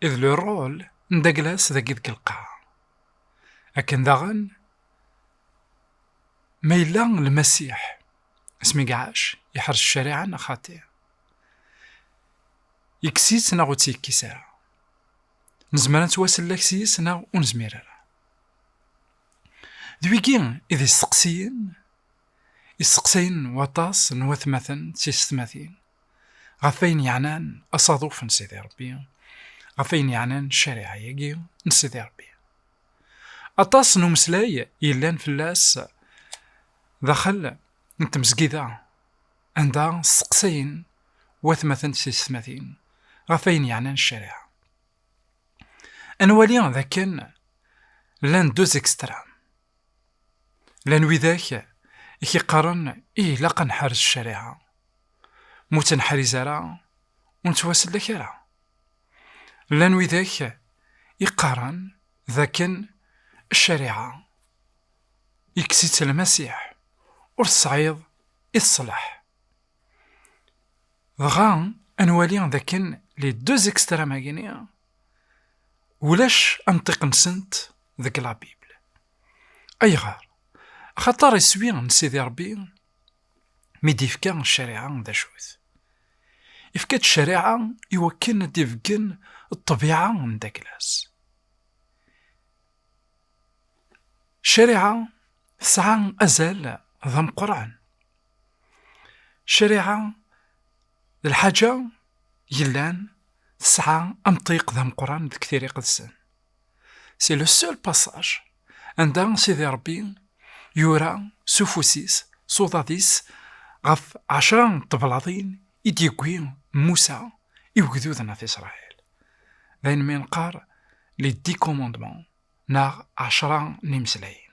Et le rôle n Daglas dagi deg lqaɛa. Akken daɣen, ma yella Lmasiḥ, asmi i iɛac, iḥrec ccariɛa neɣ xaṭi? Yekkes-itt neɣ ur tt-yekkis ara? Nezmer ad nettwasellek s yes neɣ ur nezmir ara? D wigi i d isteqsiyen isteqsayen waṭas n watmaten d tiysetmatin ɣef ayen yeɛnan asaḍuf n Sidi Ṛebbi, ɣef ayen yeɛnan ccariɛa-agi n Sidi Ṛebbi. Aṭas n umeslay yellan fell-as daxel n tmezgida, anda steqsayen watmaten d teysetmatin ɣef ayen yeɛnan ccariɛa. Ad nwali d akken llan deux extrêmes. Lan widak i k-iqqaren i ilaq ad nḥarez ccariɛa. Mu tt-neḥriz ara, ur nettwasellek ara. Lan widak i qqaren d akken ccariɛa ikkes-itt Lmasiḥ, ur tesɛiḍ i teṣleḥ. Dɣa ad nwali d akken les deux extrêmes-agi-ni ulac anṭiq-nsent deg la Bible. Ayɣer? Axaṭer iswi n Sidi Ṛebbi mi d-ifka ccariɛa d acu-t? Ifka-d ccariɛa i wakken ad d-ibeggen ṭṭbiɛa n Daglas. Ccariɛa tesɛa azal d ameqqran. Ccariɛa d lḥaǧa yellan tesɛa amṭiq d ameqqran deg tiri iqedsen. C'est le seul passage anda Sidi Rebbi yura s ufus-is, s uḍad-is ɣef ɛecra n teblaḍin i d-yewwi Musa i ugdud n At Isṛayil. D ayen mi neqqar les dix commandements neɣ ɛecra n imeslayen.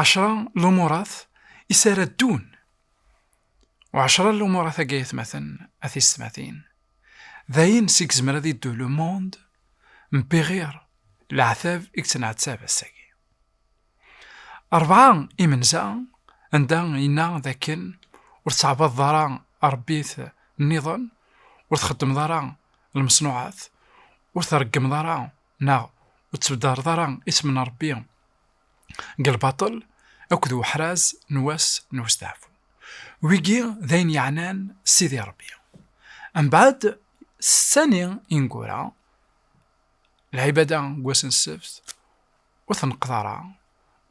ɛecra lumurat i s ara ddun. U ɛecra lumurat-agi ayetmaten a tiysetmatin, d ayen seg yezmer ad yeddu le monde mebbi ɣir leɛtab i yettneɛtab ass-agi. Rebɛa imenza anda yenna d akken ur tettɛabadeḍ ara arebbit nniḍen, ur txeddmeḍ ara lmeṣnuɛat, ur treggmeḍ ara Neɣ ur ttbeddareḍ ara isem n Ṛebbi deg lbaṭel akked uḥraz n wass n westeɛfu. Wigi d ayen yeɛnan Sidi Ṛebbi. Mbeɛd setta-nni ineggura, lɛibada deg wass n ssebt, ur tneqqeḍ ara,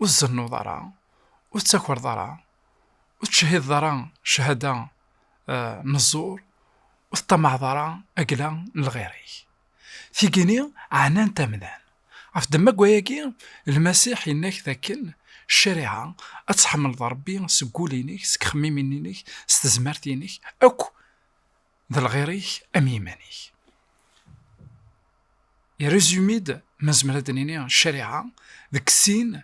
ur tzennuḍ ara, ur tettakreḍ ara, ur tettcehhideḍ ara cchada n ẓẓur, ur teṭṭamaɛeḍ ara agla n lɣir-ik. Tigini ɛnan-t amdan. Ɣef ddemma n wayagi, Lmasiḥ yenna-k dakken ccariɛa, ad tḥemmleḍ Rebbi seg wul-inek, seg ixemmimen-inek, s tezmert-inek akk, d lɣir-ik am yiman-ik. Irezumi-d, ma nezmer ad d-nini, ccariɛa deg sin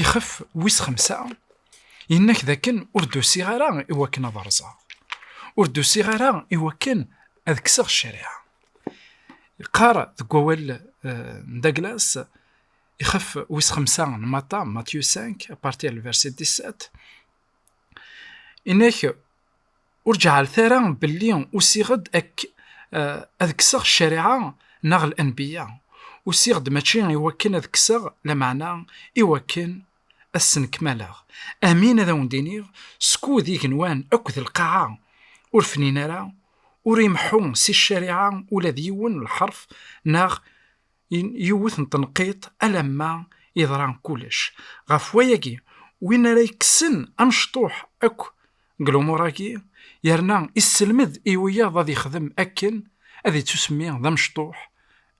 Ixef wis xemsa yenna-k d akken ur d-usiɣ ara i wakken ad rẓeɣ ur d-usiɣ ara i wakken ad kkseɣ ccariɛa yeqqar deg wawal eh, n Douglas ixef wis xemsa n Mata Matthew 5 apartir le verset 17 inek Ur ǧeɛlet ara belli usiɣ-d ak ad kkseɣ ccariɛa neɣ lanbiya, usiɣ-d mačči i wakken ad kkseɣ, lameɛna i wakken ad snenkmaleɣ. Amin ad awen-d-iniɣ, skud igenwan akk d lqaɛa ur fnin ara, ur imeḥḥu si ccariɛa ula d yiwen lḥerf neɣ yiwet n tenqiḍt alamma yeḍra kullec. Ɣef wayagi, win ara yekksen amecṭuḥ akk deg lumuṛ-agi, yerna isselmed i wiyaḍ ad yexdem akken, ad yettusemmi d amecṭuḥ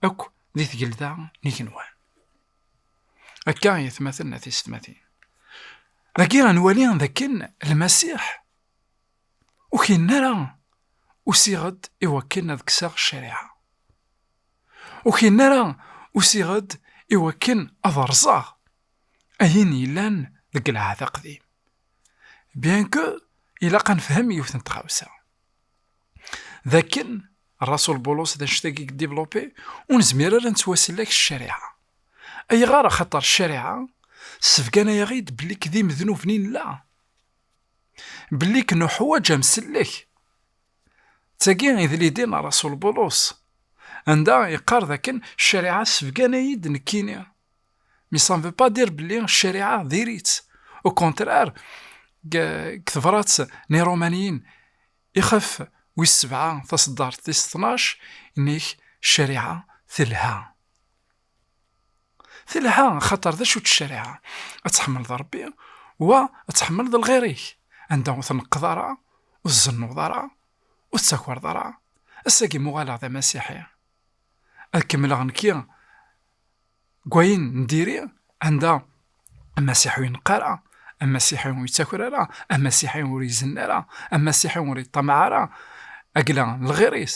akk di tgelda n igenwan. Akka i atmaten a tisetmatin. Dagi ad nwali d akken Lmasiḥ ur k-yenna ara usiɣ-d i wakken ad kkseɣ ccariɛa. Ur k-yenna ara usiɣ-d i wakken ad rẓeɣ ayen yellan deg lɛahd aqdim. Bien que ilaq ad nefhem yiwet n tɣawsa, d akken Rasul Bulus d annect-agi i yedivlupi, ur nezmir ara ad nettwasellek s ccariɛa. Ayɣer? Axaṭer ccariɛa ssebgana-yaɣ-id belli k d imednuben i nella, belli k nuḥwaǧ amsellek. Ttagi idlidi n rasul Bulus, anda yeqqar dakken ccariɛa ssebgan-ayi-d nekkini. Mais ça ne veut pas dire belli ccariɛa diri-tt. Au contraire, deg tebrat n Irumaniyen ixef wis sebɛa taṣeddart tis tnac, yenna-ak ccariɛa telha. Telha xaṭer d acu ccariɛa, ad tḥemmleḍ Ṛebbi wa ad tḥemmleḍ lɣir-ik, anda ur tneqqeḍ ara, ur tzennuḍ ara, ur tettakeṛḍ ara, ass-agi m'uɣaleɣ d amasiḥi, ad kemmleɣ nekki deg wayen n diri, anda amasiḥi ur ineqq ara, amasiḥi ur yettaker ara, amasiḥi ur izenna ara, amasiḥi ur yeṭṭamaɛ ara, agla n lɣir-is.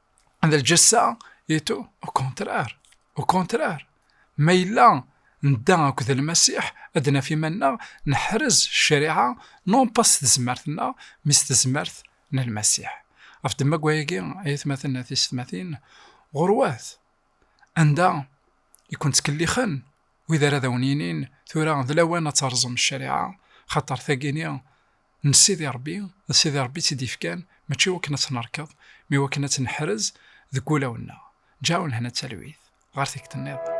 d lǧessa itu ukontrar ukontrar ma yella nedda akked lmasiḥ ad naf iman-nneɣ neḥrez ccariɛa non pas s tezmert-nneɣ mi s tezmert n lmasiḥ ɣef ddemma-agi ay atmaten at isetmatin ɣurwat anda i kent-ttkellixen wid ara d awen-yinin tura d lawan ad terẓem ccariɛa xaṭer tagini n Sidi Ṛebbi, d Sidi Ṛebbi i tt-id-yefkan, mačči i wakken ad tt-nerkeḍ, ma i wakken ad tt-neḥrez deg wulawen-nneɣ. Ǧeɛɛu lehna d talwit. Ɣer tikkelt nniḍen.